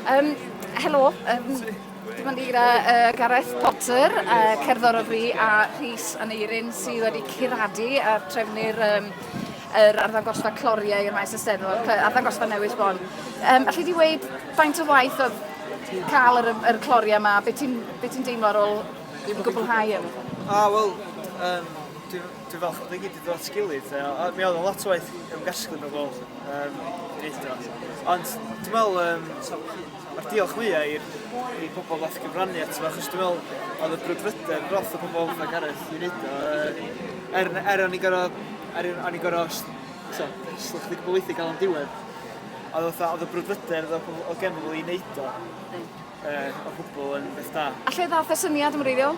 Um, helo, um, dyma ni gyda uh, Gareth Potter, uh, cerddor o fri, a Rhys Aneirin sydd wedi curadu a trefnu'r um, yr arddangosfa cloriau i'r maes ysteddfod, arddangosfa newydd bon. Um, Alla i di weid faint o waith o cael yr, yr cloriau yma, beth ti'n be ti deimlo ar ôl i gwblhau yn? A, wel, um, dwi'n dwi falch bod i gyd wedi dod at gilydd. Mi oedd lot o waith ymgasglu mewn gweld. Um, Ond dwi'n meddwl, um, mae'r diolch fwyaf i'r i pobl ddath gyfrannu ato fo, achos dwi'n meddwl oedd y brwdfrydedd roth y pobl fatha Gareth i wneud o. Er, er o'n i gorau, er o'n i gorau, so, slych wedi gwybod weithio gael o'n diwedd, oedd fatha, oedd y brwdfrydedd o genfod i wneud o, uh, o gwbl yn beth da. A lle ddath y syniad yn wreiddiol?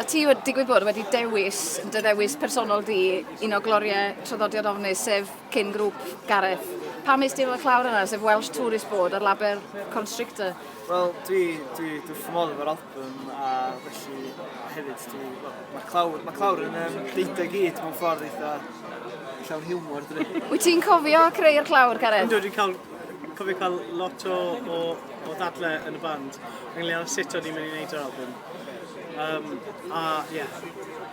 A ti wedi digwydd bod wedi dewis dy ddewis personol di un o gloriau traddodiad ofnus sef cyn grŵp Gareth. Pam nes ti efo clawr yna sef Welsh Tourist Board a'r label Constrictor? Wel dwi, dwi, dwi wrth modd efo'r album a felly hefyd dwi, well, mae clawr, mae clawr yn um, deitha gyd mewn ffordd eitha llawn hiwmor dwi. Wyt ti'n cofio creu'r clawr Gareth? Ynddo dwi'n cael cofio cael lot o, o, o ddadle yn y band ynglŷn â sut o'n i'n mynd i wneud yr albwm. Um, a, ie. Yeah.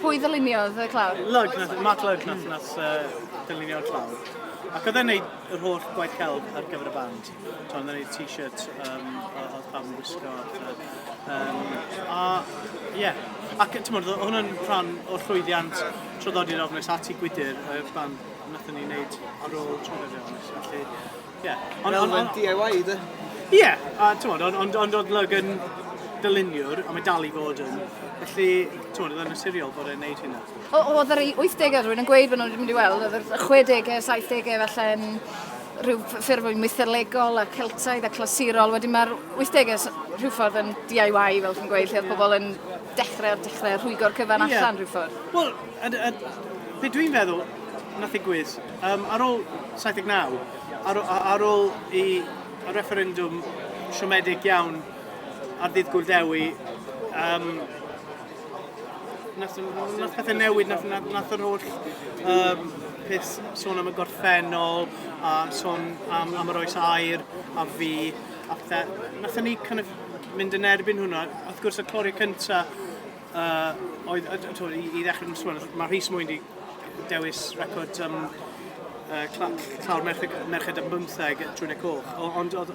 Pwy ddyluniodd y clawr? Lug, nath, Mark Lug nath, nath uh, ddylunio'r clawr. Ac oedd e'n neud yr holl gwaith celf ar gyfer y band. Oedd e'n neud t-shirt um, oedd pam yn gwisgo. Um, a, ie. Yeah. Ac, ti'n mwyn, oedd hwnna'n rhan o'r llwyddiant traddodiad ofnus at i gwydr y band nath ni wneud ar ôl traddodiad ofnus. Felly, Ie. Ond ond ond... Fel ma'n DIY 'de? Ie, a t'mod ond ond ond o'dd Lug yn dyluniwr, a mae dal i fod yn, felly t'mod o'dd e'n naturiol bod e'n neud hynna. O- o'dd yr wythdege, rwy'n yn gweud fy' nhw'n mynd i weld, o'dd y chwedege, saithdege falle yn rhyw ffurf fwy mytholegol a Celtaidd a clasurol, wedyn mae'r wythdege s- rhyw ffordd yn DIY fel chi'n gweud, lle o'dd pobl yn dechre o'r dechre, rhwygo'r cyfan allan rhyw ffordd. Wel, A, a be dwi'n feddwl wnaeth ddigwydd, um, ar ôl 79, ar, ar ôl i y refferendwm siomedig iawn ar ddydd Gwyl Dewi, um, nath, nath pethau newid, nath, nath, nath yr holl um, peth sôn am y gorffennol, a sôn am, am yr oes air, a fi, a pethau. Nath ni kind of mynd yn erbyn hwnna. Wrth gwrs, y clori cyntaf Uh, oedd, uh, to, i, i ddechrau yn sôn, mae Rhys Mwyn wedi dewis record um, uh, clawr merched, merched yn bymtheg trwy'n y coch. Ond oedd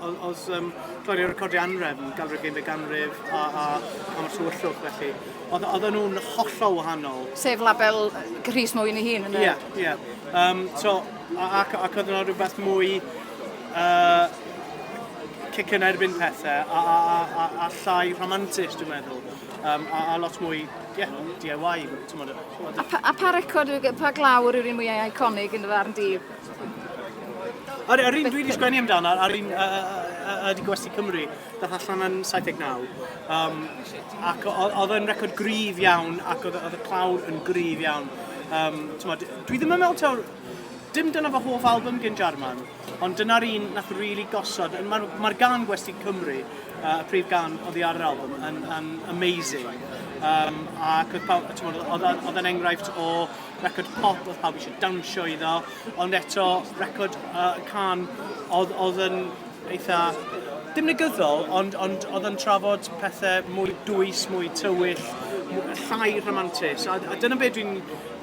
um, Lloyd yn recordio anref, galwyd gymryd ganrif a, a, a mae'r tywyllwch felly. Oedd nhw'n hollol wahanol. Sef label Rhys Mwyn i hun yn y... Ie, yeah, ie. Yeah. Um, so, ac, ac oedd yna rhywbeth mwy uh, cic yn erbyn pethau a, a, a, a, a llai rhamantus, dwi'n meddwl. Um, a, a lot mwy, yeah, DIY, tymod. A, pa, a pa record, pa glawr yw'r un mwyaf iconig yn y farn di? Yr, yr un dwi wedi sgwennu amdano, a'r un ydy Gwesti Cymru, dath allan yn 79. Um, ac oedd yn record gryf iawn, ac oedd y clawr yn gryf iawn. Um, tymod, dwi ddim yn meddwl taw, dim dyna fy hoff album gen Jarman, Ond dyna'r un nath rili gosod, mae'r ma gan Gwesti Cymru, uh, y prif gan oddi ar yr album, yn, yn amazing. Um, ac oedd pawb, ti'n meddwl, oedd yn enghraifft o record pop, oedd pawb eisiau dawnsio iddo, ond eto record uh, can oedd, oedd yn eitha dim negyddol, ond, ond oedd yn trafod pethau mwy dwys, mwy tywyll, llai rhamantus. A, a dyna beth dwi'n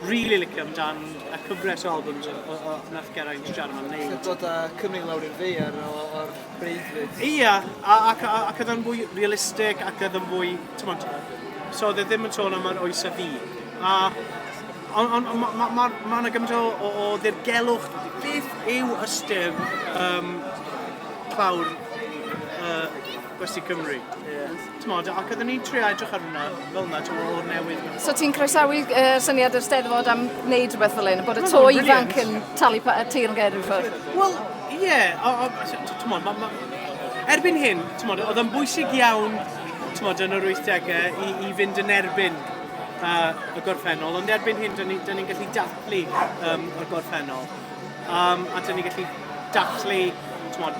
Rili licio amdan y cyfres o albums o, o, o nath Geraint Jarman neud. Sy'n dod â Cymru i lawr i'r ddaear o, o'r breuddwyd. Ia, a, ac, a, ac oedd o'n fwy realistig ac oedd o'n fwy, ti'n mwyn, so oedd e ddim yn sôn am yr oes a fi. A, ond on, on, mae ma, ma, ma yna gymaint o, o, o ddirgelwch, beth yw ystyr um, clawr uh, Gwesti Cymru? Yeah. T'mod, ac oedden ni'n trio edrych ar hwnna fel 'na, t'mo' o'r newydd mewn ffordd. So ti'n croesawu yy syniad yr Steddfod am wneud rhywbeth fel hyn, bod y to ifanc yn talu pa- y teyrnged ryw ffordd? Wel, ie, o- o- s- t- t'mod, ma' ma'... Erbyn hyn, t'mod, oedd o'n bwysig iawn, t'mod, yn yr wythdegau i i fynd yn erbyn yy y gorffennol, ond erbyn hyn 'dan ni 'dan ni'n gallu dathlu yym y gorffennol, yym a 'dan ni'n gallu dathlu, t'mod,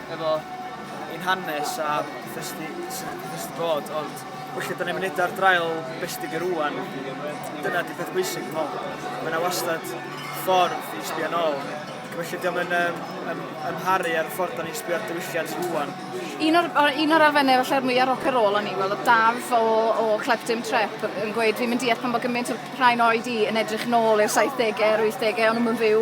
efo ein hanes a petha sy 'di sy 'di petha sy 'di bod ond weithia' 'dan ni'n mynd edra'r draul be' sy 'di bod rŵan dyna 'di peth bwysig dwi me'wl. Ma' 'na wastad ffordd i sbio nôl ac felly 'di o'm yn yym yym amharu ar y ffordd 'dan ni'n sbio ar diwylliant rŵan. Un o'r o- un o'r elfenne falle'r mwya rock a roll o'n i wel o'dd Daf o o Clef Dim Trep yn gweud fi'm yn deall pam bo' gymint o rhai 'n oed i yn edrych nôl i'r saithdege a'r wythdege o'n nw'm yn fyw